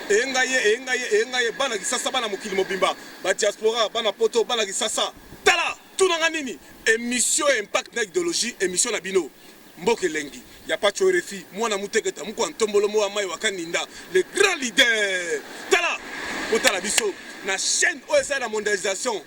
eyenga ye eyenga ye eyenga ye bana kisasa bana mokili mobimba ba diaspora bana poto bana kisasa tala tunanga nini émission ya impact na idéologie émission na bino mboka elengi ya pacho refi mwana muteketa moko ya ntombolo moko ya mai wakaninda le grand leader tala otala biso na chaîne oyo ezali na mondialisation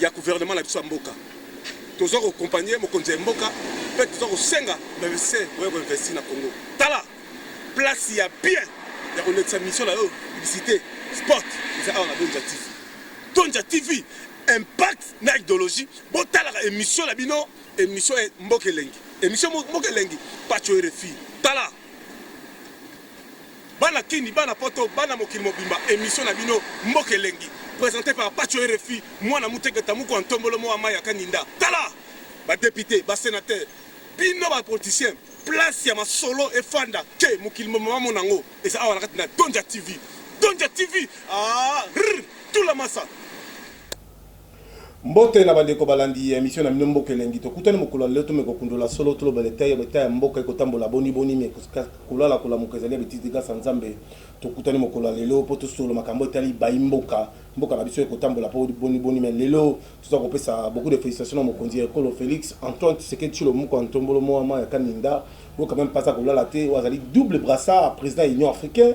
ya gouvernement na biso ya mboka toza ko compagner mokonzi ya mboka pe toza kosenga ba investisser boye ko investir na Congo tala place ya bien ya kolekisa mission na yo publicité sport eza awa na Donja TV Donja TV impact na idéologie botalaka émission na bino émission ya mboka elengi émission mboka elengi pacho RFI tala Bana kin, bana poto, bana mokili mobimba emission na bino mboka elengi presente par patsho rfi mwana muteketa mukua ntombolo moa mayi ya kaninda tala ba depute ba senateur bino ba politicien place ya masolo efanda tse mokili mobimba ba mona ngo eza awa na kati na dondja tv dondja tv aah rr tula masa Mbote na bandeko balandi ya emission na bino mboka elengi tokutani mokolo ya lelo tomeka kokundola solo toloba na etat etat ya mboka ekotambola boni boni mais kolala kolamuka ezali ya betise te grâce à nzambe tokutani mokolo ya lelo mpo tosolo makambo etali bayi mboka mboka na biso ekotambola mpo boni boni mais lelo toza kopesa beaucoup de félicitations na mokonzi ya ekolo Felix Antoine Tshisekedi Tshilomoko Antombolo Moama ya Kaminda oyo quand même mpe aza kolala te oyo azali double brassard président ya Union africaine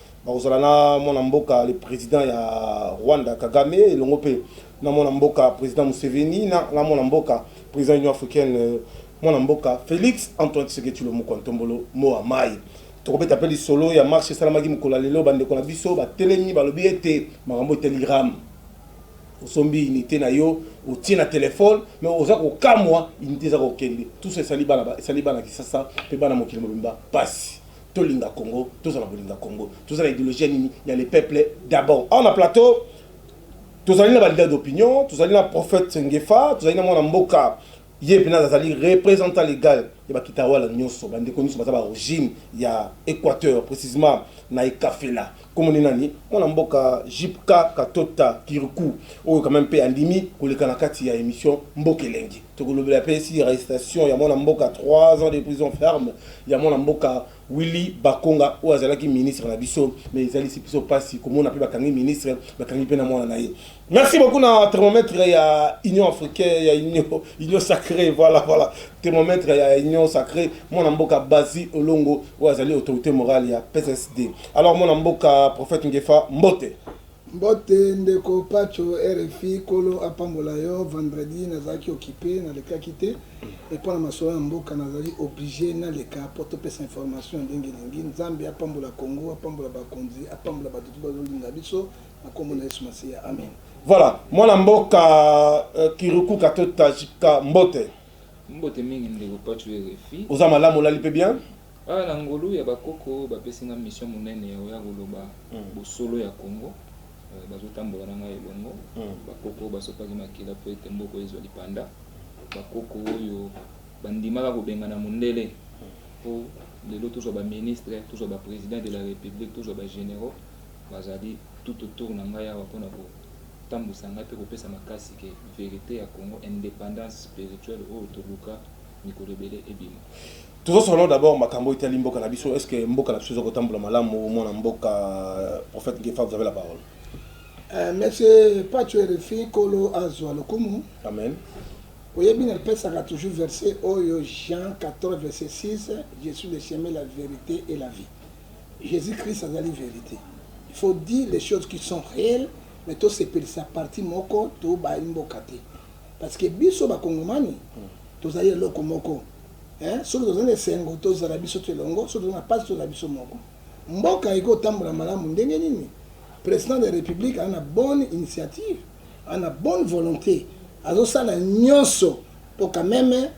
Bakozala na mwana mboka le president ya Rwanda Kagame elongo mpe na mwana mboka president Museveni na na mwana mboka president Union africaine mwana mboka Felix Antoine Tshisekedi Tshilombo Kwa Ntombolo Moa Mayi. Tokobeta mpe lisolo ya marche esalamaki mokolo ya lelo bandeko na biso batelemi balobi ete makambo eteli Ram osombi unité na yo otie na telefone me oza kokamwa unité eza kokende tuso esali bana esali bana kisasa mpe bana mokili mobimba mpasi Tolinga Congo tozala bolinga Congo toza na ideologie ya nini ya le peuple d'abord awa na plateau tozali na ba leader d'opinion tozali na prophète Ngefa tozali na mwana mboka ye pena azali représentant legal ya ba kitawala nyonso ba ndeko nyonso baza ba origine ya Equateur precisement na Ekafela kombo ne nani mwana mboka JPK Katota Kirikou oyo quand même pe andimi koleka na kati ya emission Mboka Elengi Tokolobela pe esi arrestation ya mwana mboka 3 ans de prison ferme ya mwana mboka Willy Bakonga oyo azalaki ministre na biso mais ezalisi biso pasi komona pe bakangi ministre bakangi pe na mwana na ye. Merci beaucoup na thermomètre ya Union africaine ya Union Union sacree voilà voilà thermomètre ya Union sacree mwana mboka Bazi Olongo oyo azali autorite morale ya PSSD. Alors mwana mboka prophète Ngefa mbote. Mbote ndeko patsho rfi kolo apambola yo vendredi nazalaki occupe nalekaki te mais pona masolo ya mboka nazali oblige naleka po topesa information ndenge elingi nzambe apambola congo apambola bakonzi apambola bato to bazolinga biso na kombo na yesu masiya amen Voilà, mwana mboka euh, Kiruku Kato Tajika Mbote. Mbote mingi ndeko Patsho RFI. Oza malamu olali pe bien? Awa na ngolu ya ba koko bapesi nga mission munene ya koya koloba bosolo ya Congo bazo tambola na ngai elongo ba koko oyo basopaki makila po ete mboka ezua lipanda ba koko oyo bandimaka kobengana mundele po lelo tozua ba ministre tozua ba president de la republique tozua ba generaux bazali tout autour na ngai awa pona ko tambuisa ngai pe kopesa makasi ke verite ya Congo independance spirituelle oyo toluka mikolo ebele ebima tozosolo d'abord makambo etali mboka na biso est ce que mboka na biso ezokotambola malamu mwana mboka euh, prophète ngefa vous avez la parole euh, monsieur pacho rfi kolo azwa lokumu amen oyebi napesaka toujours verset oyo jean 14 verset 6 je suis le chemin la vérité et la vie jésus christ azali vérité il faut dire les choses qui sont réelles mais tosepelisa parti moko tobayi mboka te Parce que biso ba kongomani tozali eloko moko hein, soki tozali na esengo tozala biso tu elongo, soki tozali na pasi tozala biso moko. Mboka eko tambola malamu ndenge nini? President de la Republique aza na bonne initiative, aza na bonne volonte, azo sala nionso po quand meme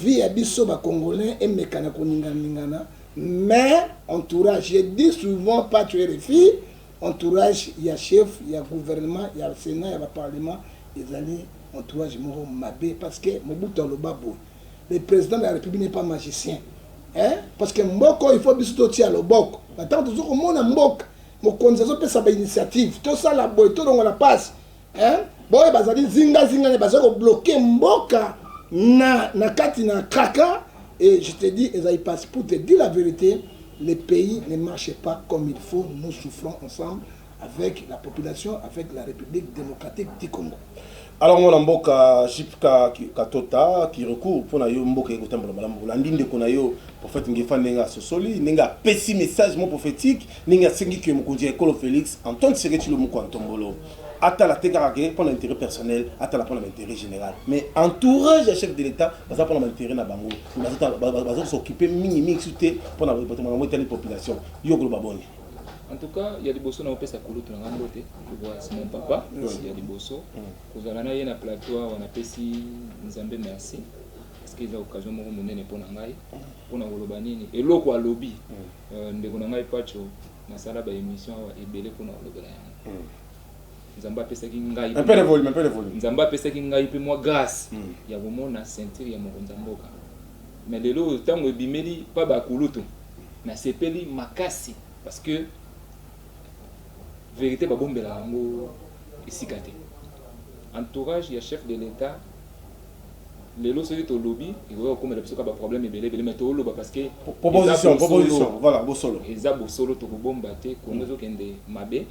vie ya biso ba congolais emeka na koningana ningana mais entourage je dis souvent pas tu es Entourage ya chef ya gouvernement ya senat ya ba parlement ezali entourage moko mabe parce que Mobutu aloba boye le president de la republique n'est pas magicien eh? parce que mboka oyo il faut biso totia loboko na ntango tozo komona mboka mokonzi azopesa ba initiative tosala boye tolongola pasi eh? baoyo bazali zingazinga nde bazali kobloke mboka na, na kati na kraka et je te dis ezali mpasi pour te dire la vérité le pays ne marche pas comme il faut nous souffrons ensemble avec la population avec la république démocratique du congo alors mwana mboka jipka katota kirecour mpo na yo mboka ye kotambola malamu olandi ndeko na yo prophète ngefa ndenge asosoli ndenge apesi message mo prophétique ndenge asengi ke mokonzi ya ekolo félix antoine seketilo moko ya ntombolo atala te kaka ke pona interet personnel atala pona ba interet general mais entourage ya chef de l'etat baza pona ba interet na bango bazo s'occuper mingi mingi su te pona bato makambo etali population yo koloba boni En tout cas, il y a des bossons au pesa kulutu na ngambo te. C'est mon papa, il y a des bossons. Kozala na ye na plateau on a pesi Nzambe merci. Parce que eza occasion moko monene pona ngai. Pona koloba nini? Eloko alobi. Ndeko na ngai Pacho Nasala ba emission awa ebele pona kolobela yango. Mm. Nzambe apesaki ngai un peu de volume, un peu de volume. Nzambe apesaki ngai pe mwa grâce mm. ya komona ceinture ya mokonzi ya mboka. Mais lelo oyo tango ebimeli pa ba kulutu nasepeli makasi parce que verite babombela yango esika te. Entourage ya chef de l'etat Lelo soki tolobi ekoki kokomela biso ka ba problème ebele ebele mais toloba parce que proposition proposition voilà bosolo eza bosolo tokobomba te Congo mm. ezokende mabe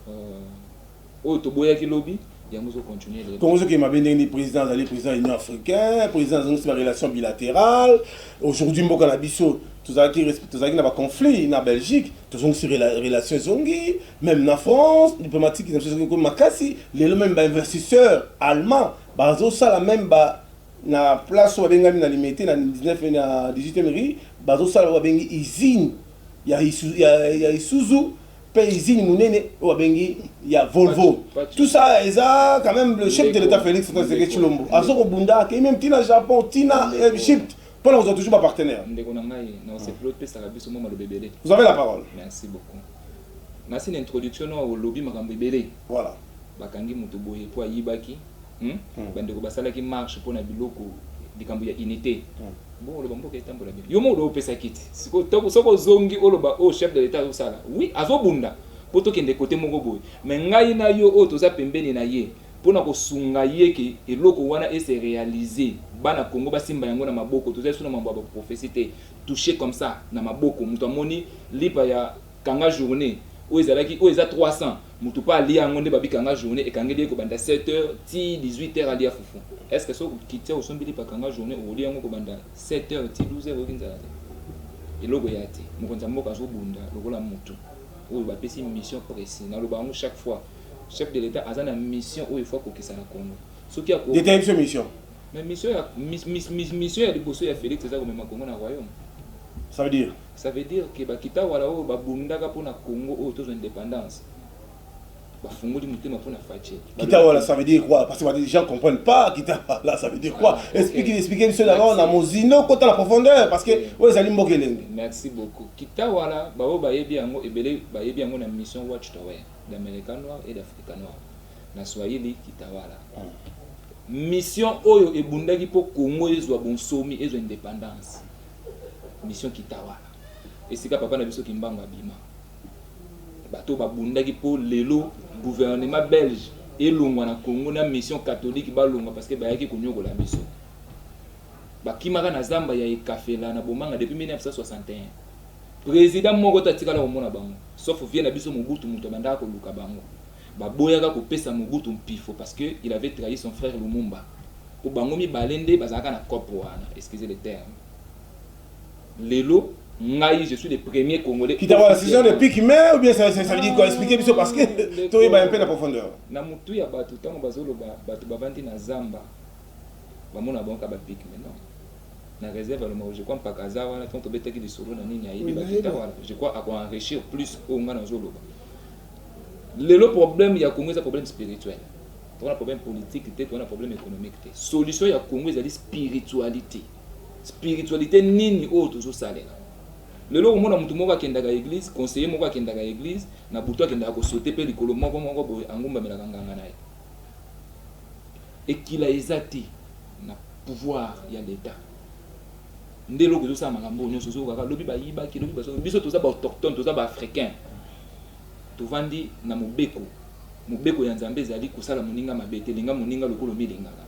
euh, oyo toboyaki lobi yango ezo continue lelo Congo ezokende mabe ndenge nini président azali président ya union africain président azongisi ba relation bilatérale aujourd'hui mboka na biso tozalaki tozalaki na ba conflit na belgique tozongisi relation ezongi même na france diplomatique na biso ezongi komi makasi lelo même ba investisseur allemand Bazo sala meme ba na place oyo ba bengami na limete na 19 et na 18 eme rue bazo sala oyo ba bengi usine ya ya isuzu pe usine munene oyo ba bengi ya volvo tout ça eza quand meme le chef de l'etat Felix Antoine Tshisekedi Tshilombo azo ko bunda akeyi meme ti na Japon ti na Egypte pona kozwa toujours ba partenaires. Ndeko na ngai na osepeli opesaka biso mwa maloba ebele. Vous avez la parole. Merci beaucoup. Nasi na introduction nawa olobi makambo ebele. Voilà. bakangi mutu boye po ayibaki hum bandeko basalaki marche pona biloko likambo ya unite bongo oloba mboka etambola bien yo moko opesa kiti siko toko soko ozongi oloba oh chef de l'etat azosala oui azobunda po tokende kote moko boye mais ngai na yo oyo toza pembeni na ye pona kosunga ye ke eloko wana e se realiser bana kongo basimba yango na maboko toza lisusu na mambo ya ba prophetie te touche comme ça na maboko mutu amoni lipa ya kanga journee oyo ezalaki oyo eza 300 Mutu pe alia yango nde babika nga journee ekangeli ye kobanda 7 heures ti 18 heures alia fufu est ce que soki okiti awa osombi lipa kanga journee okolia yango kobanda 7 heures ti 12 heures oyoki nzala te eloko eya te mokonzi ya mboka azobunda lokola mutu oyo bapesi mission presi naloba yango chaque fois chef de l'etat aza na mission oyo ifo akokisa na congo soki ako Detailler biso mission. Mais mission ya mis, mis, mis, mission ya liboso ya Felix eza komema Congo na royaume. Ça veut dire Ça veut dire que ba kitawala oyo ba bundaka pona Congo oyo tozo indépendance bafungoli motema pona Fatshi. Kitawala ça veut dire quoi Parce que les gens comprennent pas kitawala ça veut dire quoi ah, Explique okay. explique biso na na mozino kota na profondeur parce que oyo ezali mboka elenge. Merci beaucoup. Kitawala ba oyo bayebi yango ebele bayebi yango na mission Watchtower d'America Noir et d'Africa Noir. na swahili kitawala mission oyo ebundaki mpo congo ezwa bonsomi ezwa independance mission kitawala esika papa na biso kimbangu abima bato babundaki mpo lelo gouvernement belge elongwa na congo na mission catholique balongwa parce que bayaki konyokola biso bakimaka na zamba ya ekafela na bomanga depuis 1961 président moko te atikala komona bango sauf vie na biso mobutu moto abandaka koluka bango Ba boyaka ko pesa Mobutu mpifo parce que il avait trahi son frère Lumumba. Po bango mibale nde bazalaka na coop wana, excusez le terme. Lelo ngai je suis le premier congolais Kita ba session de pique mais ou bien ça ça veut dire quoi expliquer biso parce que to yeba un peu na profondeur. Na mutu ya batu tango bazo loba batu bavandi na zamba ba mona bango ka ba pique mais non. na réserve alomako je crois mpaka aza wana ntango tobetaki lisolo na nini ayebi bakita wana je crois akoenrichir plus oyo ngai nazoloba Lelo problème ya Congo eza problème spirituel. Toza na problème politique te, toza na problème economique te. Solution ya Congo ezali spiritualite. Spiritualite nini oyo tozo salela? Lelo omona mutu moko akendaka eglise, conseiller moko akendaka eglise, na butu akendaka ko sauter pe likolo moko moko boye angumbamelaka nganga na ye. Ekila eza te na pouvoir ya l'etat. Nde eloko ezosala makambo oyo nyonso, ozoyoka kaka lobi bayibaki, lobi bazo, biso toza ba autochtones, toza ba africains. Tovandi na mobeko. Mobeko ya Nzambe ezali kosala moninga mabe te. Linga moninga lokola omilingaka.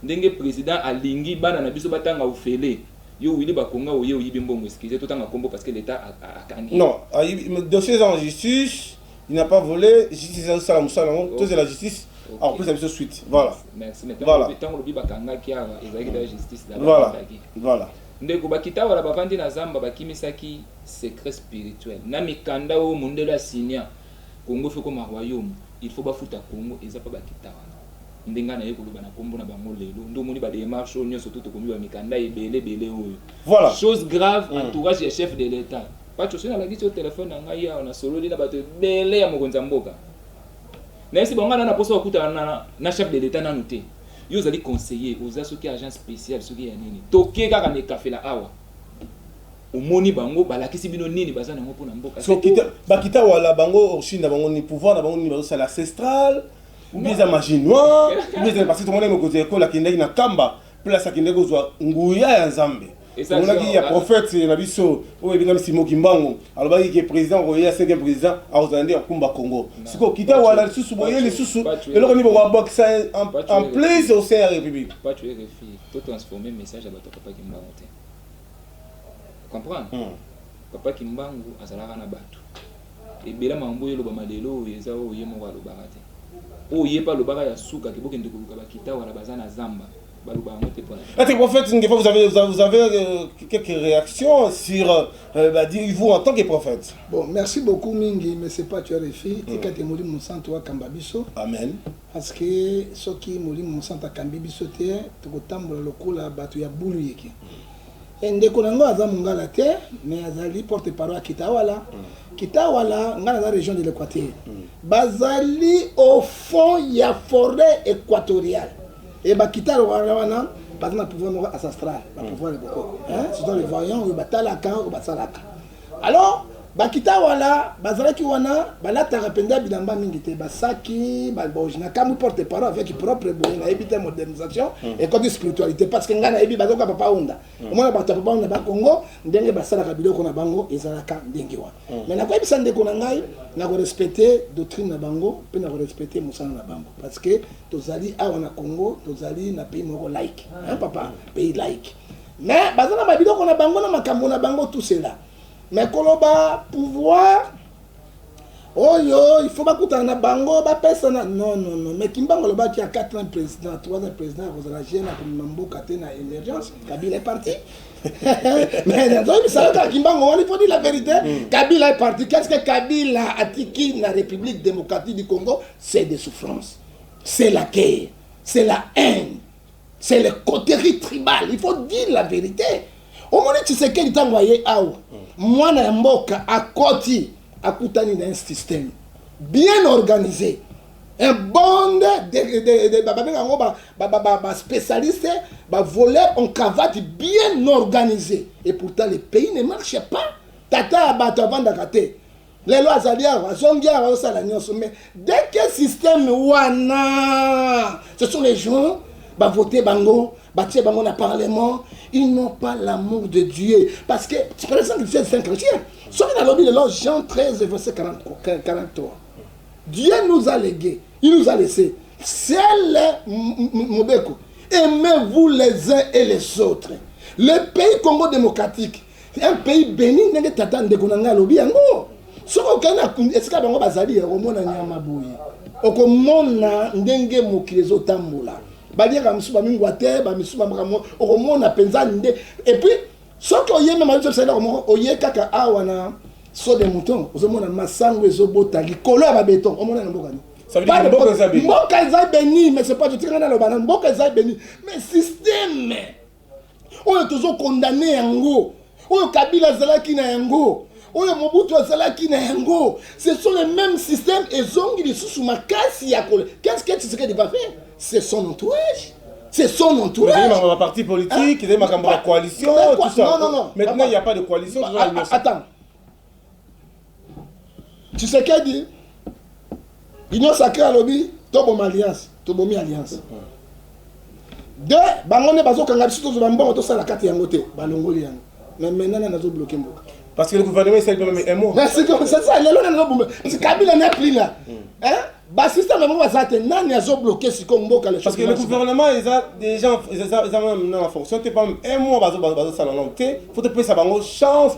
Ndenge president alingi bana na biso batanga ofele, yo Willy Bakonga oye oyibi mbongo excusez totanga kombo parce que l'etat akangi yo. Non, ayibi mais dossier eza na justice, il n'a pas vole, justice eza esala musala yango, tozela justice akopesa biso suite. Voilà. Merci, mais tango olobi bakangaki awa ezalaki dejà justice là-bas bakangaki. Voilà. Ndeko, bakita wala bavandi na zamba bakimisaki secret spirituel na mikanda oyo mundele a signa, Congo faut ekoma royaume, il faut bafuta Congo, eza pa bakita wana nde ngai naye koloba na kombo na bango lelo, nde omoni ba demarche oyo nionso to tokomi ba mikanda ebele ebele oyo Voilà. chose grave entourage ya chef de l'etat, Patsho soki nalakisi yo telephone na ngai awa nasololi na batu ebele ya mokonzi ya mboka, Na yebisi bango nga na na posa kokutana na, na chef de l'etat nanu te. Yo ozali conseiller, oza soki agent special soki ya nini. Toke kaka na ekafela awa. Omoni bango balakisi bino nini baza nango pona mboka. So kita bakita wala bango origine na bango ni pouvoir na bango nini bazo sala ancestral. Ou bien eza magie noire. Ou bien eza parce que tomona mokonzi ya ekolo akendaki na kamba. place akende kozwa nguya ya nzambe tomonaki ya prophète na biso oyo ebengami simo kimbangu alobaki ke président akoya cinquième président akozala nde ya kumba congo sikoyo kita wana lisusu boye lisusu eloko nini bokobakisa en place au sein ya république comprendre hmm. papa kimbangu azalaka na bato Ebele ya makambo oyo elobama lelo oyo eza oyo ye moko alobaka te. Oyo ye pe alobaka ya suka ke bokende koluka ba kita wala baza na zamba baloba yango te pona. Est-ce que prophète Ngefa vous avez vous avez euh, quelques réactions sur euh, bah, vous en tant que prophète? Bon, merci beaucoup mingi mais c'est pas tu as refi tika mm. te molimo santo akamba biso. Amen. Parce que soki molimo santo akambi biso te tokotambola lokola bato ya bulu yeke. Mm. Eh, ndeko na ngo aza mungala te mais azali porte parole ya kitawala mm. kitawala ngai naza région de l'équateur mm. bazali au fond ya forêt équatoriale e bakitalo wana wana baza na pouvoir moko ancestral bapouvoir ya bokoko surtout le voyant oyo batalaka oyo basalaka Alors ba kita wala bazalaki wana balataka mpenza bilamba mingi te basaki baboji na kamwi porte parole avec propre boye nayebi te modernisation mm. ekoti spiritualité parce que ngai nayebi bazoka papa onda mm. omona bato ya papa onda bakongo ndenge basalaka biloko na bango ezalaka ndenge wana mm. mais nakoyebisa ndeko na ngai nakorespecte doctrine na bango mpe nakorespecte mosala na bango parce que tozali awa na congo tozali na pays moko like hein, papa pays like Mais baza na ba biloko na bango na makambo na bango tout cela. Mais koloba pouvoir oyo il faut bakutana na bango bapesana non non non mais kimbango alobaki ya 4 ans président 3 ans président akozala jeune akomema mboka te na émergence kabila est parti mais nazoyebisa yo kaka kimbango wana il faut dire la vérité mm. kabila est parti qu'est ce que kabila atiki na république démocratique du congo c'est des souffrances c'est la guerre c'est la haine c'est le coterie tribal il faut dire la vérité omoni tshisekedi ntango aye awa mwana ya mboka akoti akutani na un système bien organisé un bond babenga yango baspécialiste ba, ba, ba, ba, ba, ba, ba, ba, ba, ba, ba voleur en cravate bien organisé et pourtant le pays ne marche pas tata ya bato avandaka te lelo azali awa azongi awa azosala nyonso mais dès que système wana ce sont les gens bavote bango batie bango na parlement ils n'ont pas l'amour de dieu parce que par exemple c'est saint chrétien soki nalobi lelo jean 13 verset 43 dieu nous a légué il nous a laissé sele mobeko aimez-vous les uns et les autres le pays congo démocratique un pays beni ndenge tata ndeko na ngai alobi yango soki okei na esika bango bazali ya komona nyama boye okomona ndenge mokili ezotambola baliaka mosusu bamingwa te bamisusu bamakambo okomona mpenza nde epuis soki oye mema biso bisalelaka moko oye kaka awa na so de mouton ozomona masango ezobota likolo ya babeton omona na mboka nini mboka eza beni mais c'est pas totikanga naloba na mboka eza beni mais systeme oyo tozo condamne yango oyo kabila azalaki na yango oyo mobutu azalaki na yango ce sont les mêmes systèmes ezongi lisusu makasi ya kole qu'est ce que tshisekedi va faire c'est son entourage c'est son entourage. Vous avez ma parti politique, vous avez ma coalition, tout ça. Non, non, non. Maintenant, il n'y a pas de coalition. Attends, tshisekedi union sacré alobi toboma alliance tobomi alliance de bango nde bazokanga biso tozwa bambongo tosala kati yango te balongoli yango mais maintenant nani azobloke mboka parce que le gouvernement esali mpe meme emo sasa lelo nani azobomba parce que kabila na pli la basista na bango baza te nani azobloke siko mboka parce que le gouvernement eza déjà eza meme na fonction te pam un mois bazosala nango te fo topesa bango chance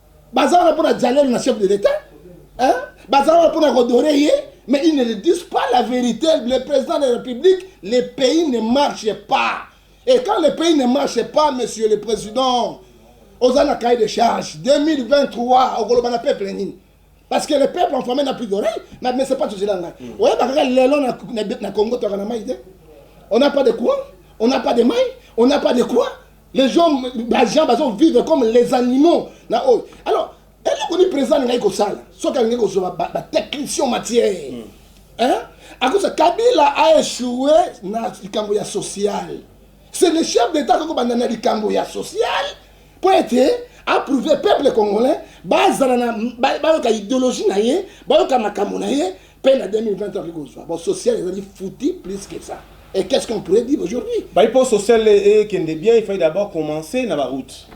baza wana mpona jalelo na chef de l'etat baza wana mpona kodore ye mais ils ne le disent pas la vérité le président de la république le pays ne marche pas et quand le pays ne marche pas monsieur le président oza na cahier de charge 2023 okoloba na peuple nini parce que le peuple en famille n'a plus d'oreille mais mais c'est pas tozela ngai mm. oyeba kaka lelo na congo toyaka na mai te on n'a pas de courant on n'a pas de mai on n'a pas de quoi les gens ba gens bazo vivre comme les animaux na oyo alors eloko ni président alingaki kosala soki alingaki kozwa batechnicien matière mm. hein? akosa kabila a échoué na likambo ya social c'est le chef d'état koko banda na likambo ya social mpo ete approuve peuple congolais bazala na bayoka idéologie na ye bayoka makambo na ye Paix na 2020 okoki kozwa. Bon, social ezali fouti plus que ça. Et qu'est-ce qu'on pourrait dire aujourd'hui? Bayi po social ekende bien, il fallait d'abord commencer na ba routes.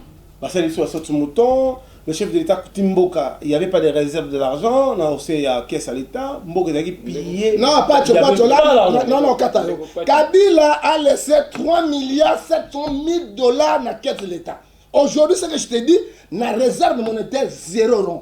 Basali biso basoti mouton, le chef de l'État akuti mboka, il y avait pas de réserve de l'argent, na ose ya caisse à l'État, mboka ezalaki pillée. Non, Pacho, Pacho, là, non, non, kata yo. Kabila a laissé 3 milliards 700 000 dollars na caisse de l'État. Aujourd'hui, ce que je te dis, na réserve monétaire zéro rond.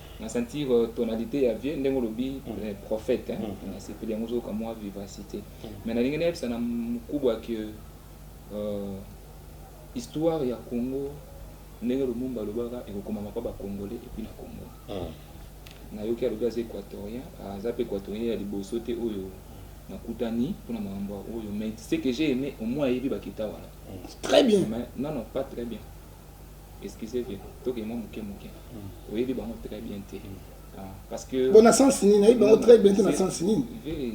Na sentir tonalite ya vieux ndenge olobi prophète na sepeli yango ozo kamua vivacite mais nalingi na yebisa na mukubwa que histoire ya Congo ndenge Lumumba alobaka ekokomama pa ba congolais epuis na Congo na yoki alobi aza equatorien aza pe equatorien ya liboso te oyo na kutani pona makambo oyo mais ce que j'ai aime au moins ayebi bakita wana très bien mais non non pas très bien bona sens nini nayebi bango très bien te na sens nini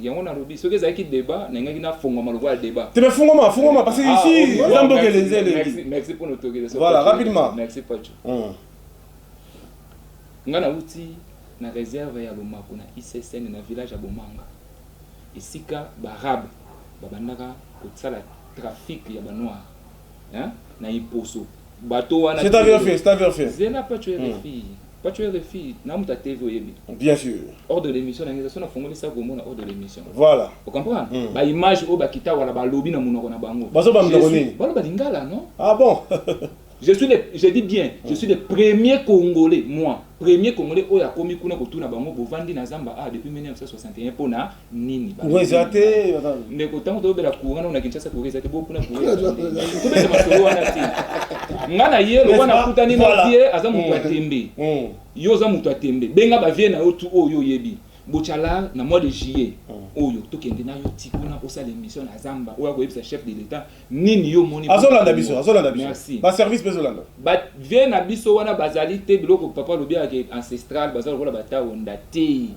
yango nalobi soki ezalaki débat nalingaki nafongwama lokola débat te fongwama fongwama parce que ah, ici eza mboka elenzi elengi merci mpo notokele voilà rapidement merci pacho hmm. nga nauti na réserve ya lomako na issn na village ya bomanga esika baarabe babandaka kosala trafic ya banoire hein na iposo bateau wana c'est ta verfie c'est ta verfie zela pas tu es refie hmm. Pas tu es refi, na muta TV oyebi. Bien sûr. Hors de l'émission, na ça na fongoli ça gomo na hors de l'émission. Voilà. Vous comprenez mm. Ba image au bakita wala ba lobby na munoko na bango. Bazo ba mdoko nini? Balo ba lingala non? Ah bon. je suis le, je dis bien, mm. je suis le premier congolais moi. Premier congolais oyo akomi kuna kotuna bango bovandi na zamba ah depuis 1961 pona nini courant eza te ndeko ntango tobela courant nao na kinshasa courant eza te bokuna courantobeta masolo wana te nga na ye lokwa nakutani na vie aza moto ya mm. tembe mm. yo oza moto ya tembe benga bavie na yo tu oyo oyebi bocala na mois de juillet mm. oyo tokende na yo ti kuna osala émission na zamba oyo akoyebisa chef de l'état nini yo omoni azolanda biso azolanda biso baservice mpe ezolanda bavie na biso wana bazali te biloko papa alobi yake ancestral baza lokola bataonda te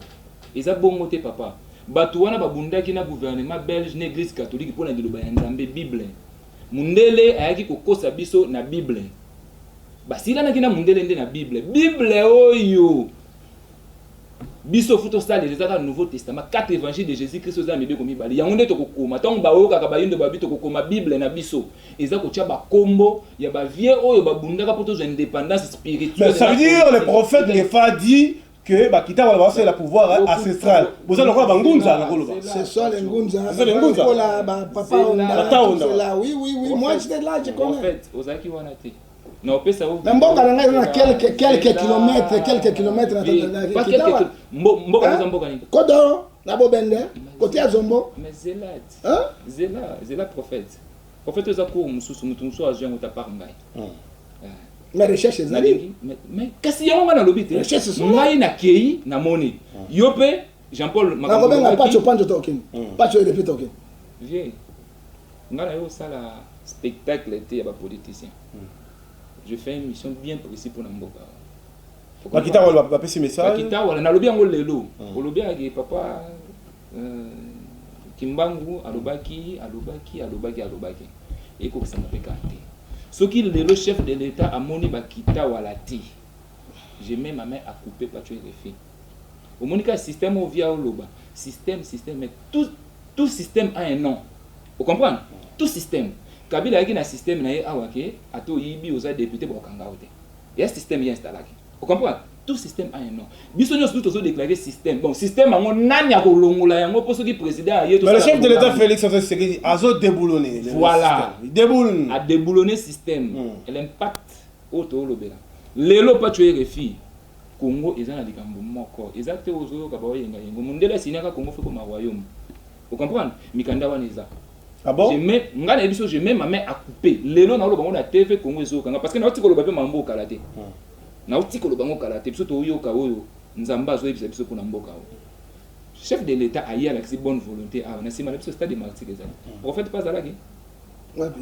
Eza bongo te papa. Batu wana ba bundaki na gouvernement belge na eglise catholique pona liloba ya Nzambe bible. Mundele ayaki ko kosa biso na bible. Ba silanaki na mundele nde na bible. Bible oyo biso fu to salela eza kaka nouveau testament. Quatre evangiles de Jesus Christ oza na mibeko mibale. Yango nde toko koma. Tango ba yokaka ba yindo ba bi toko koma bible na biso. Eza ko tia ba kombo ya ba vieux oyo ba bundaka po tozwa independance spirituelle. Mais ça veut dire le prophète Ngefa dit que bakita wana basalela pouvoir eh, ancestral boza lokola bangunza na koloba ozalaki wana te na mboka na ngai na quelques quelques kilomètres quelques kilomètres na mboka eza mboka nini kodo na bobende kote ya zombo zela zela prophète Prophète oza cours mususu mutu mususu azwi yango ta part ngai. Mais recherche ezali. Mais kasi yango ngai nalobi te. Recherche solo. Ngai na kei na moni. Yo pe Jean Paul makambo. Nako benga Pacho Pancho Token. Pacho Erepe Token. Vieux. Ngai na yo sala spectacle te ya ba politiciens. Je fais une mission bien précise pour na mboka. Bakita wala bapesi message. Bakita wala nalobi yango lelo. Olobi yango papa Euh, Kimbangu alobaki, alobaki, alobaki, alobaki. Ekokisama pe kaka te. Soki lelo chef de l'Etat amoni bakita wala te, je mets ma main à couper Pacho RFI. Omoni kaka système oyo via oloba, système, système, mais tout, tout système a un nom. Vous comprenez? Tout système. Kabila ayaki na système na ye awa ke ata oyibi oza député bakokanga yo te. Ya système ye installaki. O comprendre? Tout système a un nom. Biso nionso tout tozo declarer système. Bon, système yango nani ako longola yango po soki president aye to sala. Mais le chef de l'Etat Felix Antoine Tshisekedi azo deboulonner. Voilà. Il deboulonne. A deboulonner système. Mm. L'impact oyo to lobela. Lelo pa tuer refi. Congo eza na likambo moko. Eza te ozo yoka ba oyenga yengo. Mundele asignaka Congo foko ma royaume. O comprendre? Mikanda wana eza. Ah bon? Je mets, nga na yebiso, je mets ma main à couper. Lelo na oloba ngo na TV, Congo ezo yoka nga. Parce que na oti koloba pe mambo kala te. Hmm. Na oti koloba ngo kala te. Biso to yoka oyo, Nzamba azo yebisa biso pona mboka oyo. Chef de l'Etat aye alakisi bonne volonté awa. Na sima na biso stade de Martyrs ezali. Hmm. Prophète pa azalaki? Wapi?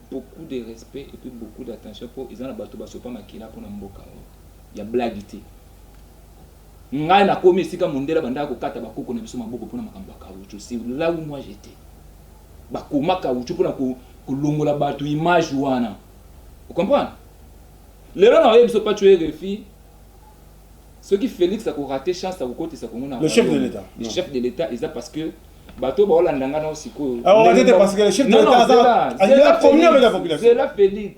Beaucoup de respect epuis beaucoup d'attention po eza na batu ba sopa makila pona mboka oyo ya blague te ngai na komi esika mondele abandaka ko kata ba koko na biso maboko pona makambo ya caoutchouc c'est là où moi j'etais ba koma caoutchouc pona ko kolongola batu image wana o comprendre lelo na oyebi biso pacho erefi soki Felix ako rater chance ako kotisa Congo na le chef de l'etat le chef de l'etat eza parce que bato oyo baolanda ngai nao sikoyo zela félix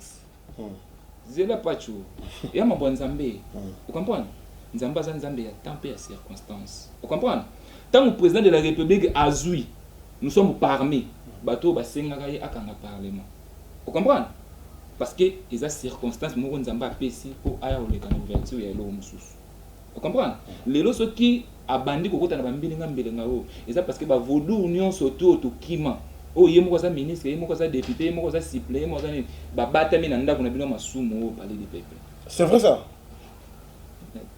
hmm. zela pacho ya mambo ya nzambe hmm. ocomprendre nzambe aza nzambe ya temps mpe ya circonstance ocomprendre ntango président de la république azwi nous sommes parmi bato oyo basengaka ye akanga parlement ocomprendre parce que eza circonstance moko nzambe apesi mpo aya koleka na ouverture ya eloko mosusu O comprendre? Lelo soki abandi ko kota na ba mbilinga mbilinga oyo, eza parce que ba vodou nionso tout oyo to kima, oyo ye moko aza ministre, ye moko aza depute, ye moko aza supplee, ye moko aza nini, ba batami na ndaku na bino ya masumu oyo palais du peuple. C'est vrai ça?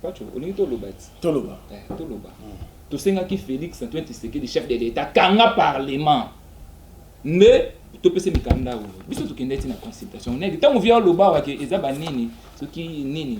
Patsho, olingi to loba ti? To loba. Eh, to loba. Hmm. To senga ki Felix Antoine Tshisekedi chef de l'Etat kanga parlement. Nde topese mikanda oyo biso tokendaki na consultation nayaki ntango via loba wake eza banini soki nini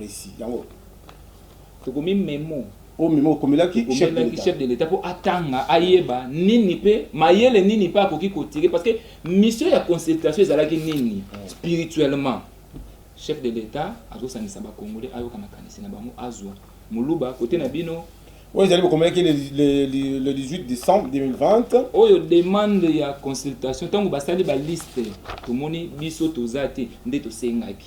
Resi. Yango tokomi memo. Oyo memo okomelaki chef de l'etat. Chef de l'etat po atanga ayeba nini pe mayele nini pe akoki ko tirer parce que mission ya consultation ezalaki nini hmm. spirituellement. Chef de l'etat azosangisa ba congolais ayoka makanisi na bango azwa muluba kote na bino oyo ezali bokomelaki le 18 décembre 2020 oyo demande ya consultation ntango basali baliste tomoni biso toza te nde tosengaki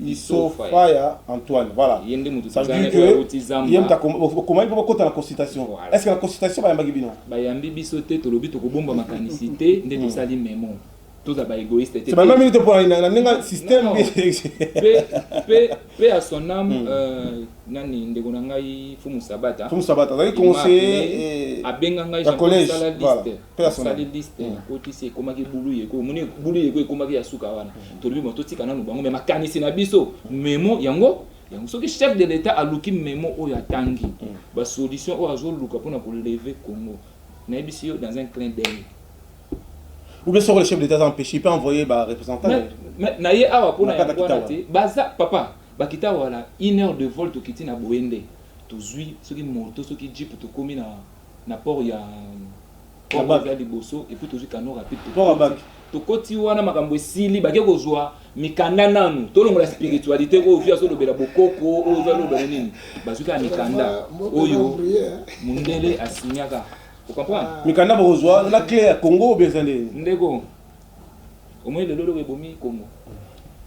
Iso fire Antoine voilà ça veut dire que ye mutu okomaki mpo bakota na consultation est ce que na consultation bayambaki bino bayambi biso te tolobi tokobomba makanisi te nde hmm. tosali memo toza ba égoïste te bana minute pour na ninga système pe pe à son âme hmm. euh, nani ndeko na ngai fumu sabata fumu sabata azali conseiller eh, abenga ngai jean collège voilà asali liste mm. akotisi ekomaki bulu yeko omoni bulu yeko ekomaki ya suka wana mm. tolobi bo totika nanu bango me makanisi na biso mm. memo yango yango soki chef de l'état aluki memo oyo atangi basolution oyo azoluka mpona koleve congo nayebisi yo dans un clin d'œil ou bien soko le chef d'état aza empêché il peut envoyer ba représentant na ye awa mpona yango wana te baza papa bakita wana une heure de vol tokiti na boye nde tozwi soki moto soki jeep tokomi na na port ya port ya liboso et puis tozui canon rapide port abaki tokoti wana makambo esili bake kozwa mikanda nanu tolongola spiritualité oyo vi azolobela bokoko oyo vi alobela nini bazwi kaka mikanda oyo mundele asinyaka okomprendre mikanda bakozwa na cle ya congo obeza nde ndeko omoni lelo loko ebomi congo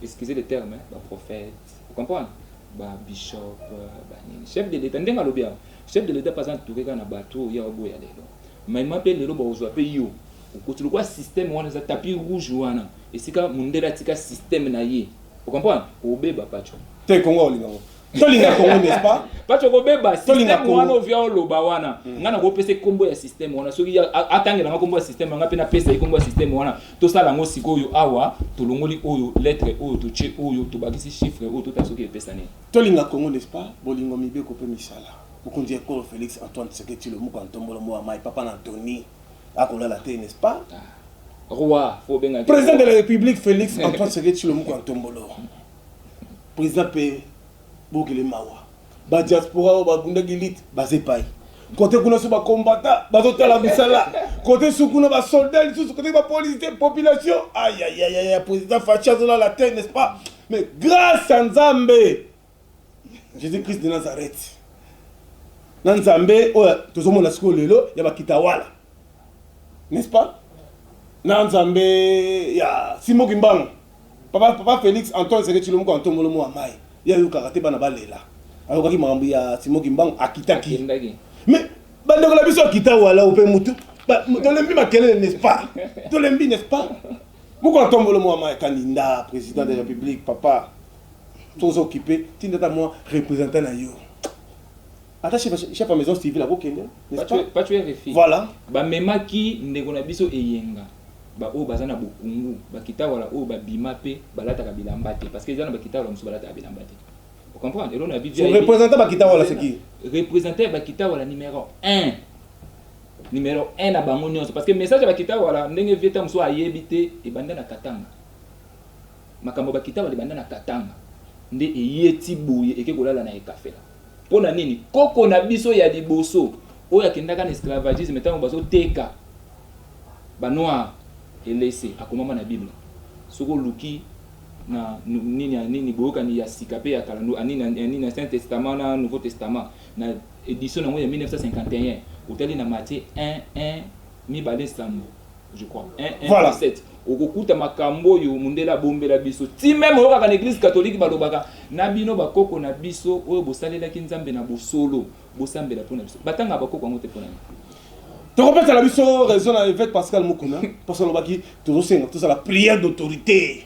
excusez le terme baprophète okomprendre babishop banini chef de l'état ndenge alobi awa Chef de l'etat pe aza entoure kaka na batu oyo ye aoboya lelo maima pe lelo bakozua pe yo okoti lokola systeme wana eza tapis rouge wana esika mundele atika systeme na ye o comprendre kobeba patsho te congo akolinga ngo tolinga congo n'est-ce pas patsho kobeba systeme wana ovia oloba wana mm. nga nakopesa kombo ya systeme wana soki atangela nga kombo ya systeme nga pe napesa ye kombo ya systeme wana tosala ngo sikoyo awa tolongoli oyo lettre oyo totie oyo tobakisi chiffre oyo totala soki epesa nini Tolinga Congo n'est-ce pas? Bolingo, mibeko mpe misala. Mokonzi ya ekolo Felix Antoine Tshisekedi Tshilombo Kantombolo Mowa Mayi Papa na Antony akolala te n'est-ce pas? Roi, faut obenga ye President de la Republique Felix Antoine Tshisekedi Tshilombo Kantombolo President mpe bokele mawa ba diaspora oyo babundaki lutte baza epayi kote kuna so ba combattants bazotala misala kote su kuna ba soldats lisusu kote ba policiers population ayayayaya President Fatshi azolala te n'est-ce pas? Mais grâce à Nzambe, Jésus-Christ de Nazareth, na Nzambe oyo tozomona sikoyo lelo ya bakitawala, n'est-ce pas? na Nzambe ya Simon Kimbangu, papa, papa Félix Antoine Seke Tshilomoko Antomolo Moa Mai, ye ayokaka te bana balela, ayokaki makambo ya Simon Kimbangu, akitaki. Mais bandeko na biso akita wala ope mutu, tolembi makelele, n'est-ce pas? tolembi, n'est-ce pas? Moko na tombolo mua mayi caninda president de republique papa toza occupe tinda ata mua representant na yo ata chef ya maison civile ako kende n'est-ce pas pacho RFI voilà ba memaki ndeko na biso eyenga ba oyo baza na bokungu ba kitawala oyo ba bima pe balataka bilamba te parce que eza na ba kitawala mususu balataka bilamba te o comprendre elona bi representant ba kitawala c'est qui representant ya ba kitawala numero 1 Numero un na bango nionso parce que message ya ba kitawala ndenge vieux Tamusua ayebi te ebanda na Katanga. Makambo ya ba kitawala ebanda na Katanga nde eye ti boye eke kolala na Ekafela. Pona nini? Koko na biso ya liboso oyo akendaka na esclavagisme tango bazo teka ba noir elese akomama na bible. Soki oluki na nini ya nini boyokani ya sika pe ya kala nini ya nini ya saint testament na nouveau testament. Na edition na yango ya 1951, otali na Matie 1, 1, mibale sambo, je crois, 1, 1, Voilà. 17, okokuta makambo oyo mundele abombela biso. Ti meme oyokaka na eglise catholique balobaka, na bino bakoko na biso oyo bosalelaki Nzambe na bosolo, bosambela mpo na biso. Batangaka bakoko yango te mpo na nini? tokopesa na biso raison na evete pascal mukuna parce alobaki tozosenga tozala prière d'autorité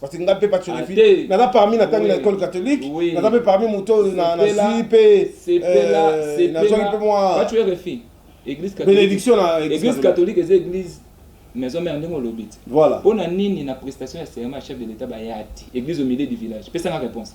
parce que nga mpe pati Ah, olivi te. naza parmi na tangi na Oui. école catholique Oui. naza mpe parmi moto oyo na na Sepela, zwi mpe sepela euh, nazwaki mpe mwa sepelapacho rfi église catholique- Bénédiction na église église catholique. catholique eza église maison mère ndenge olobi ti voilà mpo na nini na prestation ya serment ya chef de l'état baya ti église au milieu du village pesanga réponse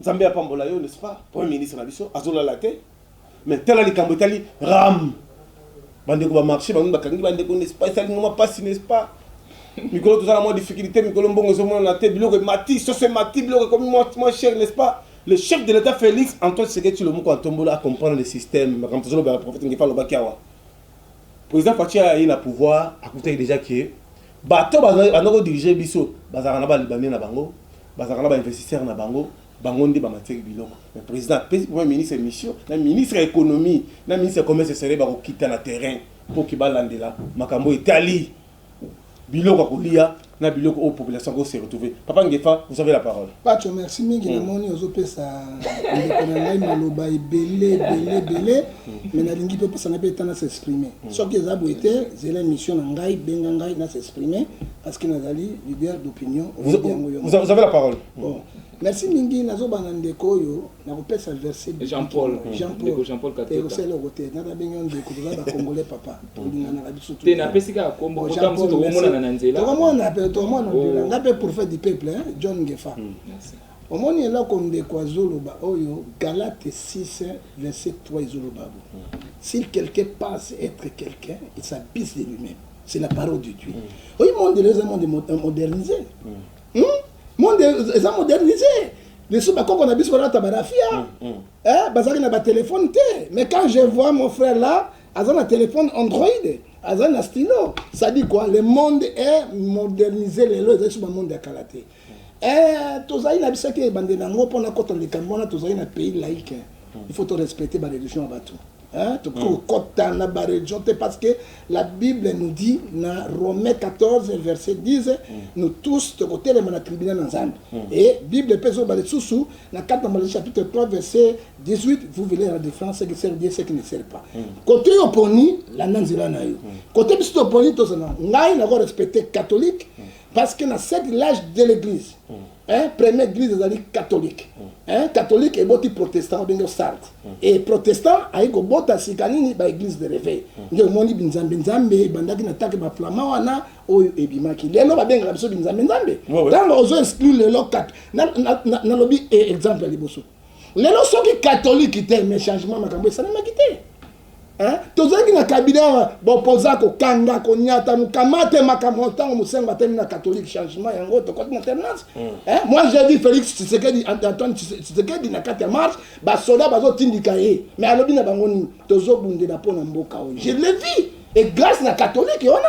Nzambe apambola yo n'est-ce pas premier ministre na biso azolala te mais tala likambo etali ram bandeko ba marché bango bakangi bandeko n'est-ce pas esali ngoma pasi n'est-ce pas mikolo toza na mwa difficulté mikolo mbongo ezomonana te biloko emati soso emati biloko ekomi mwa cher n'est-ce pas le chef de l'état félix antoine tshisekedi tshilomoko atombola acomprendre le système makambo tozolobela prophète ngefa alobaki awa président faci aye na pouvoir akutaki déjà ke Bato oyo bazali ko diriger biso bazalaka na ba libanais na bango, bazalaka na ba investisseurs na bango, bango nde bamatisaki biloko. Mais president apesi premier ministre mission na ministre ya economie na ministre ya commerce exterieur bakokita na terrain mpo ke balandela makambo oyo etali biloko ya koliya na biloko oyo population ako se retrouver. Papa Ngefa, vous avez la parole. Patsho merci mingi, namoni ozopesa ndeko na ngai maloba ebele ebele ebele. mais nalingi mpe opesa ngai mpe eta na s'exprimer mm. soki eza boye te zela émission na ngai benga ngai na s'exprimer parce que nazali leader d'opinion yango yo vous avez la parole bon merci mingi nazobana ndeko oyo nakopesa verset jean paul jean paul jean paul katota ekosala oko te nata bengi yo ndeko toza ba congolais papa tolinganaka biso te napesi kaka kombo kota mosusu tokomonana na nzela tokomonana mpe tokomonana ngai mpe prophète du peuple john ngefa Omoni eloko ndeko azo loba oyo galate six verset trois ezo loba bo s'il quelqu'un pense etre quelqu'un il s'abuse de lui meme c'est la parole de Dieu oyi monde leo eza monde modernise hmm? monde eza modernise lisusu bakoko na biso balata barafia eh, bazalaki na batelefone te mais quand je vois mon frère là aza na téléphone android aza na stylo sadi quoi le monde est modernisé lelo ezali so bamonde ya kala te Eh, tozali na biso te ebandeli yango mpo nakota na likambo wana tozali na pays laïque hmm. il faut to respecter ba religion ya bato hein? tokoki hmm. kokota na ba religion te parce que la bible nous dit na romain 14 verset 10 hmm. nous tous tokotelema na tribunal na nzambe et bible mpe ezoloba lisusu na 4 na malai chapitre 3 verset 18 vous verrez la différence qui sert dieu ce qui ne sert pas kote yo oponi landa nzela na yo kote biso toponi tozala ngai nako respecter catholique mm. parce que na cette l'âge de l'église mm. hein, première église ezali catholique mm. hein, catholique eboti protestant obenge osalt mm. et protestant ayi kobota sika nini baeglise de réveil mm. nde omoni binzambe nzambe ebandaki na take baflama wana oyo ebimaki lelo babengaka biso binzambe nzambe ntango ozo exclure lelo nalobi eh, exemple ya liboso lelo soki katolike te mais changement makambo esalemaki te hein? tozalaki na kabila bopoza kokanga konyata mokamate makambo ntango mosengo atemi na katolike changement yango tokoti na alternance mm. hein? moi j'ai dit félix tshisekedi antoine tshisekedi na kati ya marche basoda bazotindika ye mais alobi na bango nini tozobundela mpo na mboka oyo je le vis et grâce na katolike wana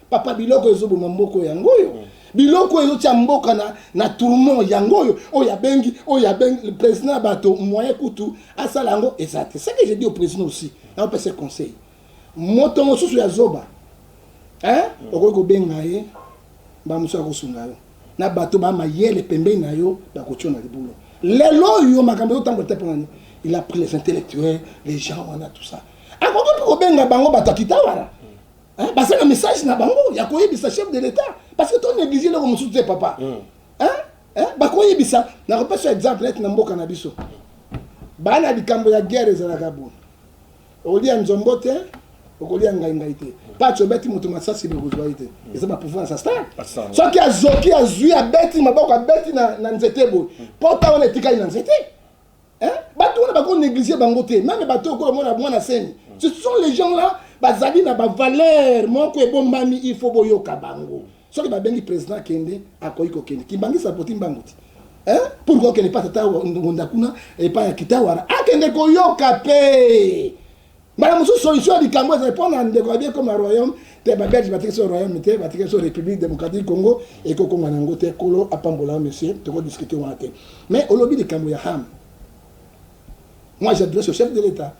Papa biloko ezo boma mboko yango oyo. Mm. Biloko oyo ezotia mboka na, na tourment yango oyo oyo abengi oyo abengi le président ya bato moyen kutu asala yango eza te. Ce que je dis au président aussi, naopesa conseil. Moto mosusu ya zoba hein? Mm. okoki kobenga ye mbala mosusu akosunga yo na bato ba mayele pembeni na yo bakotio na libulu. Lelo oyo makambo ezotambola te mpo na nini? Il a pris les intellectuels, les gens wana tout ça. Akoki mpe kobenga bango bato ya Kitawala Hein, baza na message na bango ya koyebisa chef de l'etat parce que to néglige eloko mosusu te papa mm. hein? hein? bakoyebisa nakopesa exemple neti na mboka na biso baa na likambo ya guerre ezalaka boye okolia nzombo te okolia ngai ngai te paci obeti moto masasi bokozwa ye te mm. eza bapouvoir ya sastar soki azoki azwi abeti maboko abeti na nzete boye pota wana etikali na nzete Hein? Bato wana bako negliger bango te. Meme bato oyo kolo mona mwana semi. Ce sont les gens là bazali na ba valeurs moko ebombami il faut boyoka bango. Soki babengi president kende akoki kokende. Kimbangisa poti mbangu ti. Hein? Pourquoi okende pa tata ngonda kuna epa ya kitawara akende koyoka pe. Mbala mosusu solution ya likambo ezali mpo na ndeko ya biekoma royaume te babelge batikisi oyo royaume te batikisi oyo république démocratique congo ekokoma na yango te kolo apambola yo monsieur tokodiskute wana te mais olobi likambo ya ham moi j'adresse au chef de l'état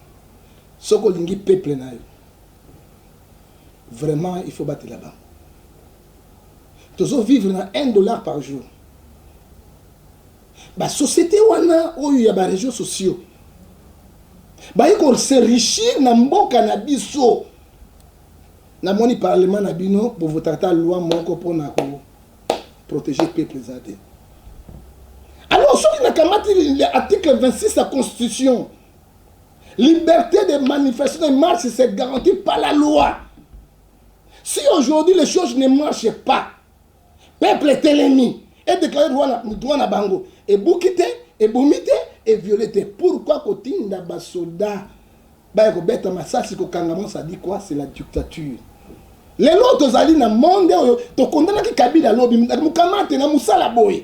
soki olingi peuple na yo vraiment il faut batela bango tozo vivre na 1 dollar par jour Ba societe wana oyo ya ba regions sociaux baye ko se richir na mboka na biso. Namoni parlement na bino bo votaka ata loi moko mpona ko proteger peuple eza te. Alors soki nakamati article 26 ya constitution liberté de manifestation et marche se garantie par la loi. Si aujourd'hui les choses ne marchent pas Peuple etelemi e declare droit na droit na bango ebuki te ebomi te e viole te pourquoi kotinda ba soldats baya kobeta masasi kokanga mwa ça dit quoi c'est la dictature lelo tozali na monde oyo tokondanaki kabila lobi mukamate na musala boye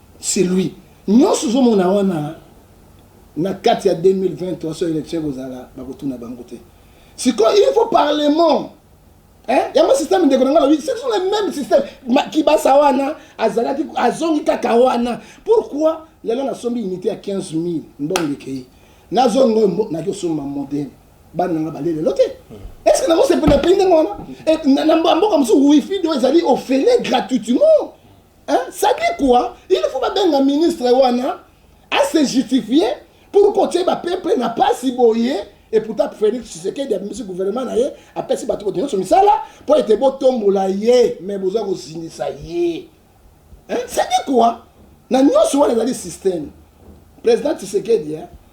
C'est lui. Nionso ozo mona wana na kati ya 2023 so election ekozala bakotuna bango te. Sikoyo il faut parlement Hein? yango système ndeko na ngai alobi ce sont les mêmes système kibasa wana azalaki azongi kaka wana pourquoi lelo nasombi unité ya 15 000 mbongo ekei nazongi oyo naki osomba modele bana nanga balie lelo te est ce que nakosepela pei ndenge wana na mboka mosusu wifi do ezali ofele gratuitement Hein? Ça dit quoi? Il faut babenga ministre wana à se justifier pour kotie ba peuple na pasi boye et pourtant Félix Tshisekedi abimisi gouvernement na ye apesi bato boto nyonso misala mpo ete botombola ye mais boza kozindisa ye hein? Ça dit quoi? Na nyonso wana ezali système président Tshisekedi hein?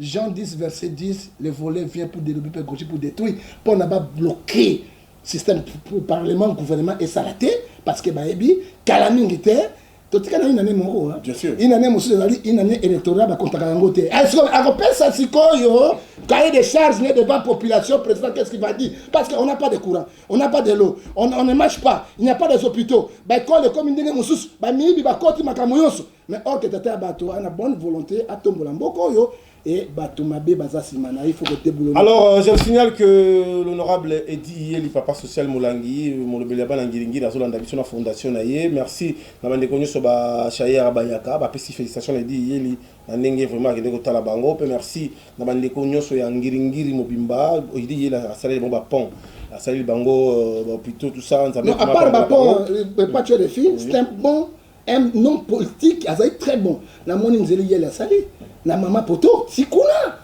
Jean 10 verset 10 le volet vient pour delobi pe goji pour detruit po na ba bloque système pour parlement gouvernement et salate parce que ba ebi kala mingi te to tika na inane moko hein. bien sûr inane mosu ezali inane électoral ba kontaka yango te est ce que akopesa sikoyo cahier de charge ne devant population président qu'est ce qu'il va dire parce que on n'a pas de courant on n'a pas de l'eau on, on ne marche pas il n'y a pas des hôpitaux ba école comme ndenge mosusu ba miyibi ba koti makambo yonso Mais or que tata ya bato a na bonne volonté atombola mboka oyo et bato mabe baza sima na ye faut ko deboulonner. Alors euh, je signale que l'honorable Eddie Yeli papa social Molangi molobeli ya bana ngiringiri azolanda biso na fondation na ye. Merci na bandeko nyonso ba Shayera Bayaka bapesi felicitation na Eddie Yeli na ndenge vraiment akende kotala bango mpe merci na bandeko nyonso ya ngiringiri mobimba Eddie Yeli asaleli bango bapont asaleli bango euh, bahopitaux tout ça nzambe Non, à part vraiment ba abanga bango. pont, euh, pas tuer les filles, c'est un bon Un homme politique azali très bon. Namoni nzeli yele asali na mama poto sikuna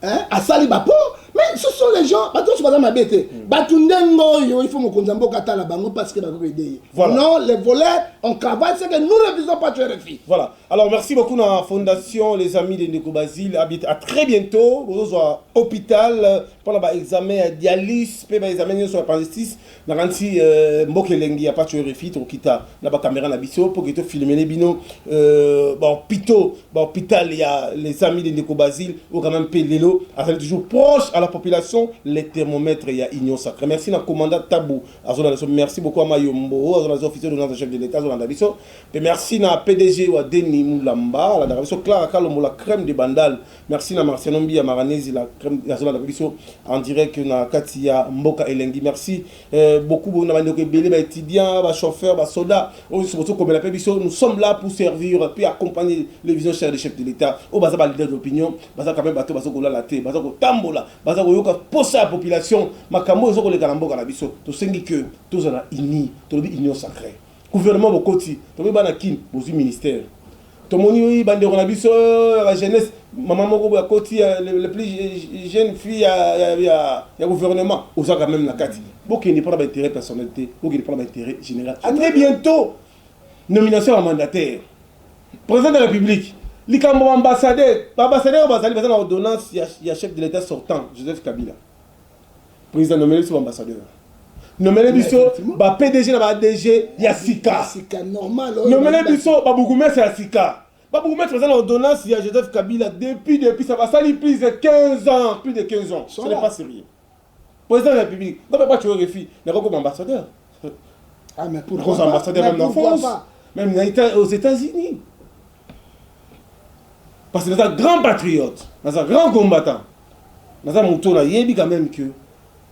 hein asali ba po mais ce sont les gens bato nyonso baza mabe te bato ndenge oyo il faut mokonzi ya mboka atala bango parce que bakoki koede ye Voilà. non les voleurs on travaille c'est que nous ne visons pas tu rfi Voilà. Alors merci beaucoup na fondation les amis de Ndeko Basile habite à très bientôt bozozwa hôpital euh, mpona ba examen ya dialyse mpe ba examen nyonso ya appendicitis Nakanisi mboka elengi ya patsho rfi tokokita na ba camera na biso poke to filmele bino ba hopitaux ba hopital ya les amis de ndeko Basile oyo quand meme pe lelo azali toujours proche à la population le thermomètre ya union sacree merci na commandant Tabu azolanda biso merci beaucoup ama yombo oyo azolanda biso officier d'ordonnance chef de l'etat azolanda biso pe merci na pdg wa Deni Mulamba alandaka biso Clara Kalombo la crème de Bandal Merci na Marciano Mbiya Maranezi la crème ya zola na biso en direct na kati ya mboka elengi merci euh, beaucoup na bande ko belé ba étudiants ba chauffeurs ba soldats on se bozo komela pe biso nous sommes là pour servir puis accompagner les visions chères du chef de l'état au baza ba leader d'opinion baza quand même bato bazo ko lala te baza ko tambola baza ko yoka posa ya population makambo ezo ko leka na mboka na biso to sengi que tozala unis to lobi union sacrée Gouvernement bokoti tokomi bana kin bozui ministère tomoni ba ndeko na biso ya ba jeunesse maman moko boye akoti le plus jeune fille ya ya ya gouvernement oza quand même na kati bokende pona ba intérêt personnel te bokende pona ba intérêt general à très bientôt nomination ya ba mandataire président de la république likambo ba ambassadeur ba ambassadeur bazali baza na ordonnance ya chef de l'etat sortant Joseph Kabila President nomele biso ambassadeur. Nomele biso ba PDG na ba ADG ya sika. Nomele biso ba bourgmestre ya sika. Ba bourgmestre baza na ordonnance ya Joseph Kabila depuis depuis ça basali plus de 15 ans, plus de 15 ans. Ce n'est pas sérieux. Président de la République, quand papa tu refus, n'a pas comme ambassadeur. Ah mais pourquoi ambassadeur même en France, même aux États-Unis. Parce que naza grand patriote, naza grand combattant, naza moto na yebi quand même que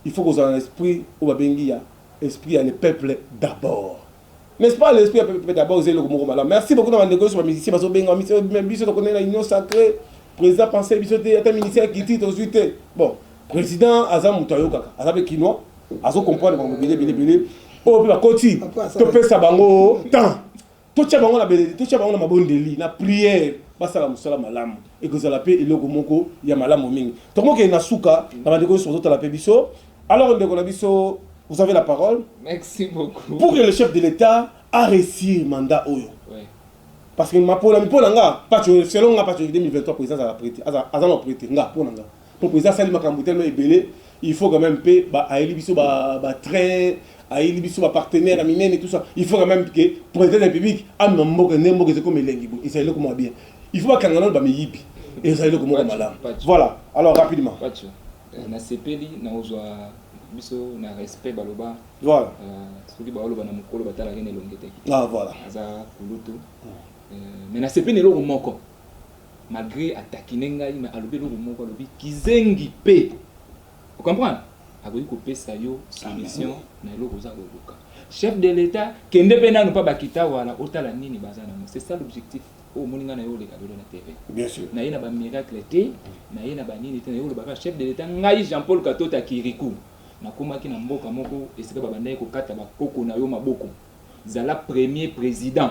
il faut kozala na esprit oyo babengi ya esprit ya le peuple d'abord. N'est-ce pas le esprit ya peuple d'abord eza eloko moko malamu. Merci beaucoup na bandeko yoso ba musiciens bazo benga ba biso tokende na union sacrée. Président pensait biso te ata ministère ya culture tozwi te. Bon, président aza moto ayokaka, aza pe kinois, azo comprendre bango bile bile bile. Oyo pe bakoti topesa bango temps. Totia bango na beleli, totia bango na mabondeli, na prière, basala musala malamu, ekozala pe eloko moko ya malamu mingi. Tokomokende na suka na bandeko nionso bazotala pe biso. Alors ndeko na biso, vous avez la parole. Merci beaucoup. Pour que le chef de l'Etat a reussir mandat oyo. Oui. Parce que ma pona, mipona nga, pacho, selon nga pacho 2023 president azala prete, aza, aza na prete, nga, pona nga. Pokua eza asali makambu tellement ebele il faut quand meme pe ba ayeli biso ba ba train ayeli biso ba partenaire ya minene tout ça il faut quand meme que president de la republique amema mboka nde mboka eza ekoma elengi boye eza eloko mua bien il faut bakanga nanu ba miyibi eza eloko moko malamu voilà alors rapidement Patsho euh, na sepeli na ozwa biso na respect baloba voilà euh, soki baoloba na mokolo batalaka na elongi te ah voilà aza kulutu euh, mais na sepeli eloko moko malgre a taquiner ngai mais alobi eloko moko alobi kizengi pe o comprendre akoki kopesa yo solution na eloko oza koluka chef de l'etat kende pe nanu pa bakitawala otala nini baza nango c'est ça l'objectif oyo omoni ngai na yo oleka lelo na tv naye na bamiracle te naye na banini te naye olobaka chef de l'etat ngai jean paul katota kirikou nakomaki na mboka moko esika babandaki kokata bakoko na yo maboko zala premier président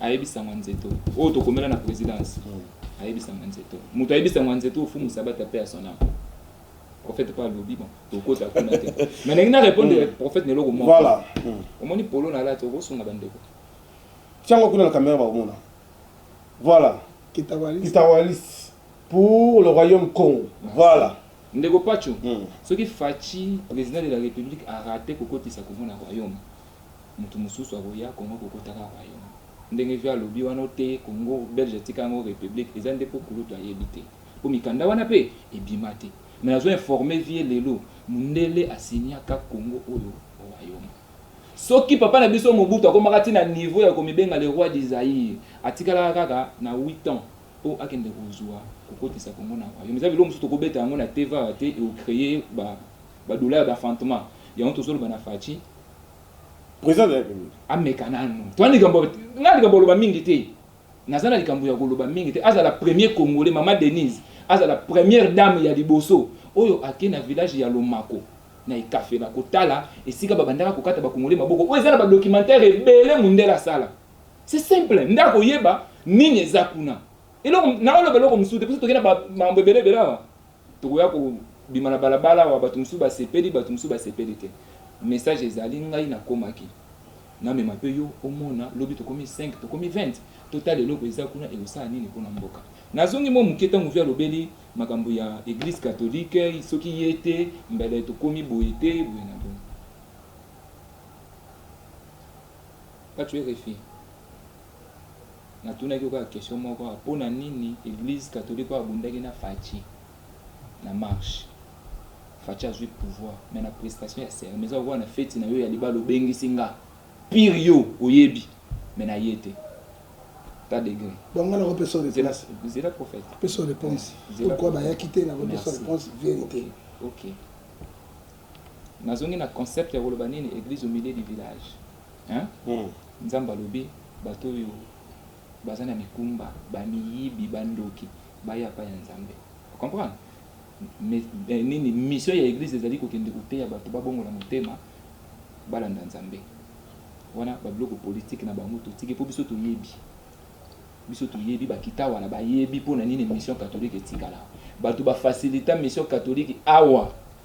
ayebisa nga nzeto oyo tokomela na presidence ayebisa nga nzeto moto ayebisa nga nzeto ofumu sabata pe ya son âme prophète pa alobi bon tokota kuna te mais ndenge na répondre hmm. prophète na eloko moko voilà hmm. omoni polo na lati okosunga bandeko tiango kuna na kamera bakomona voilà kitawalis pour le royaume congo voilà ndeko pacho hmm. soki faci président de la république arate kokotisa congo na royaume Mutu mususu akoya congo akokota kaka kayongo ndenge vieux alobi wana oteyi congo belge atika yango republique eza nde po kulutu ayebi te po mikanda wana pe ebima te mais nazo informe vieux lelo mundele a signa ka congo oyo royaume soki papa na biso mobutu akomaka ti na niveau ya komibenga le roi du zaire atikalaka kaka na huit ans po akende kozua kokotisa congo na royaume eza biloko mosusu tokobeta yango na tv awa te eo creer ba ba douleur d'enfantement yango tozoloba na fatshi President de la Republique ameka nanu toi likambo nga likambo aloba mingi te naza na likambo ya koloba mingi te azala premier congolais mama Denise azala première dame ya liboso oyo ake na village ya lomako na ekafela kotala esika babandaka kokata ba congolais maboko oyo eza na ba documentaire ebele mundele asala c'est simple nde akoyeba nini eza kuna eloko naoloba eloko mosusu te biso toke na ba mambo ebele ebele awa Tokoya ko bima na balabala awa batu mususu ba sepeli batu mususu ba sepeli te message ezali ngai na komaki na mema pe yo omona lobi tokomi 5 tokomi 20 to tala eloko eza kuna eko sala nini pona mboka. Na zongi mua mukie tangu vie alobeli makambu ya eglise catholique soki ye te mbele tokomi boye te boye na boye. Patcho rfi. Na tunaki yo kaka question moko kaka pona nini eglise catholique oyo abundaki na Fatshi na marche Fatshi azui pouvoir mais na prestation ya serment eza lokola na feti na yo ya libala obengisi nga pire yo oyebi mais na ye te ta degre bon nga nako pesa reponse zela prophète pesa reponse pourquoi bayaki te nako pesa reponse verite ok nazongi na concept ya koloba nini eglise au milieu du village Hein nzambe alobi bato oyo baza na mikumba ba miyibi ba ndoki baya epai ya nzambe o comprendre mais nini mission ya eglise ezali kokende koteya bato babongola motema balanda nzambe wana ba biloko politique na bango totiki mpo biso toyebi biso toyebi bakita wana bayebi mpo na nini mission catholique etikala bato ba facilita mission catholique awa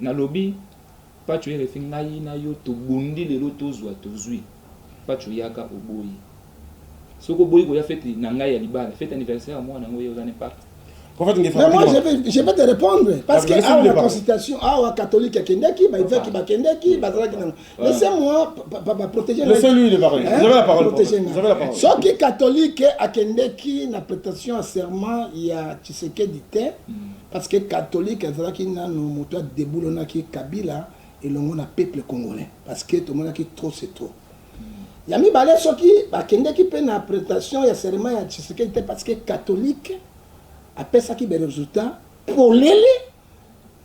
Nalobi patsho rfi ngai na yo tobundi lelo tozua tozui patsho yaka oboyi soki oboyi koya fete na ngai ya libala fete anniversaire ya mwana yango ye oza n'impact Prophet Ngefa Mais moi, je vais, je vais te répondre. Parce que awa na consultation, awa catholique akendaki, ba évêque bakendaki, bazalaki nango. Laissez-moi ba protéger. Laissez-lui le parler. Vous avez la parole. Vous avez la parole. Soki catholique akendeki na prestation ya serment ya Tshisekedi te, Parce que catholique azalaki nanu mutu a deboulonnaki Kabila elongo na peuple congolais parce que tomonaki trop c'est trop. Ya mibale soki bakendeki pe na pretention ya serment ya Tshisekedi te parce que catholique apesaki ba resultats polele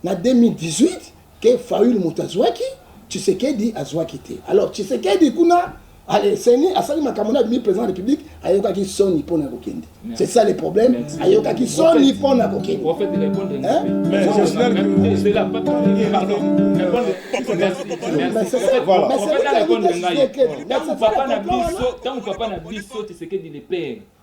na 2018 que Fayulu mutu azuaki Tshisekedi azuaki te. Alors Tshisekedi kuna Ale seni asali makambo na bimi president ya republique ayokaki soni mpo na kokende c'est ça le problème ayokaki soni mpo na kokende ntango papa na biso tshisekedi le père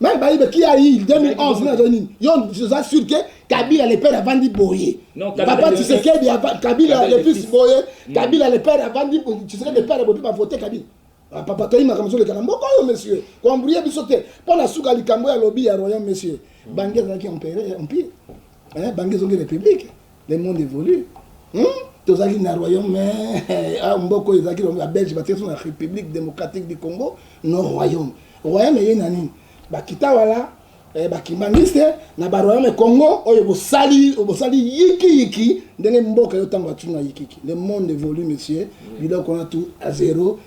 Meme Bayibe qui a eu 2011 na zoni yo oza sûr que Kabila le père avandi boye. Non, Kabila Papa le fils. Tshisekedi ava- Kabila Kabila le le fils fils. boye. Kabila le père avandi boye. Tshisekedi le père boye ba voter Kabila. Ah, Papa toyi makambo zoleka na mboka oyo monsieur. Ko embrouiller biso te. Mpo na suka likambo ya lobi ya royaume monsieur. Bangi ezalaki empire empire. Eh, bangi ezongi république. le monde évolue hmm? tozalaki na royaume eh, ah, mboko oyo ezalaki ya belge batikaki na république démocratique du congo no royaume royaume eye na nini bakita wala eh, bakimbaniste na baroyaume congo oyo bosali bosali yikiyiki ndenge mboka yo ntango atuna yikiki le monde évolue monsieur biloko wana tu a zero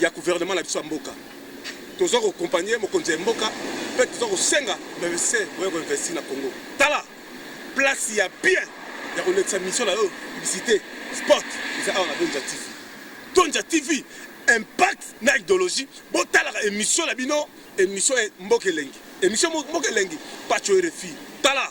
ya gouvernement na biso ya mboka toza ko compagner mokonzi ya mboka pe toza kosenga bavese boya ko investir na Congo tala place ya bien ya kolekisa mission na yo publicité sport eza awa na Donja TV Donja TV impact na idéologie botalaka émission na bino émission mboka elengi émission mboka elengi pacho RFI tala